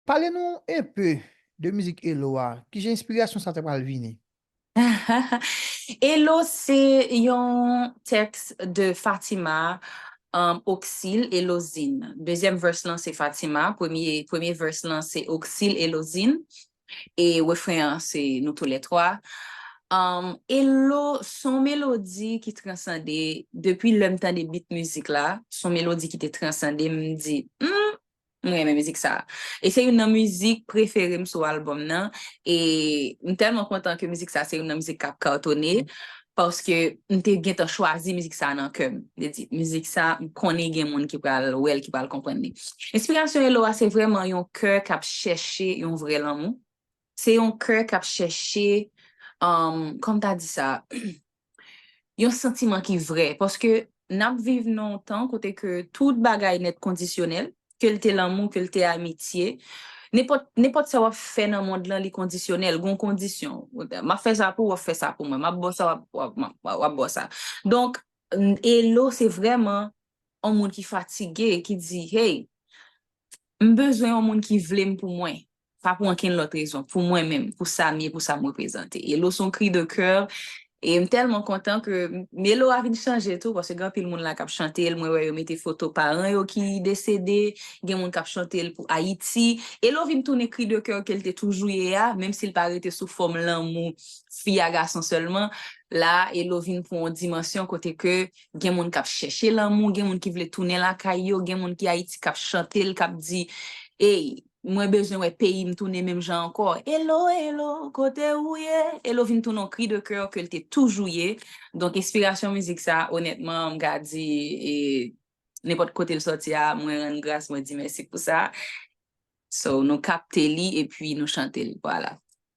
Pale nou un peu de mizik Elo a, kijan enspirasyon sa ta pral vini? Elo se yon tèks de Fatima Oxil Elozin. Dezyèm verse lan se Fatima, premye verse lan se Oxil Elozin e refren an se nou tou lè twa. Elo se yon melodi ki transande, depi lè m tande beat mizik la, se yon melodi ki te transande m, m di, humm, M renmen mizik sa. E se youn nan mizik prefere m sou albòm nan. E m tèlman kontan ke mizik sa se youn nan mizik k ap katone. Paske m te gentan chwazi mizik sa nan kè m. M te di, mizik sa, m konnen gen moun ki pral wè l, ki pral konprann li. Enspirasyon Elo a se vrèman yon kè k ap chèche yon vrè lanmou. Se yon kè k ap chèche, kòm ta di sa? Yon santiman ki vrè, paske n ap viv nan yon tan kote ke tout bagay nèt kondisyonèl, ke l te lanmou, ke l te amitye, nenpòt, nenpòt sa w ap fè nan mond lan li kondisyonèl, gon kondisyon, m ap fè sa pou w, w ap fè sa pou mwen, m ap ba w sa, w ap, w ap, w ap ba w sa. Donk, Elo se vrèman yon moun ki fatige, ki di, hey, m bezwen yon moun ki vle m pou mwen, Pa pou ankenn lòt rezon, pou mwen menm, pou sa m ye, pou sa m reprezante. E lo s on kri de coeur e m tèlman kontan ke melo a vin chanje tou paske gen anpil moun la k ap chante l, mwen wè yo mete foto paran yo ki desede, gen moun k ap chante l pou Ayiti. E lo vin tounen kri de coeur ke l te toujou ye a, menm si l pa rete sou fòm lanmou fi a gason sèlman, la a e lo vin pran on dimansyon kote ke gen moun k ap chèche lanmou, gen moun ki vle tounen lakay yo, gen moun ki Ayiti k ap chante l, k ap di ey. Mwen bezwen wè peyi m tounen menm jan ankò. Elo, elo, kote ou ye? Elo vin tounen yon kri de kè ke l te toujou ye. Donk enspirasyon mizik sa a onètman m ka di e nenpòt kote l sòti a mwen rann gras mwen di mèsi pou sa. So nou kapte li epi nou chante l. Vwala.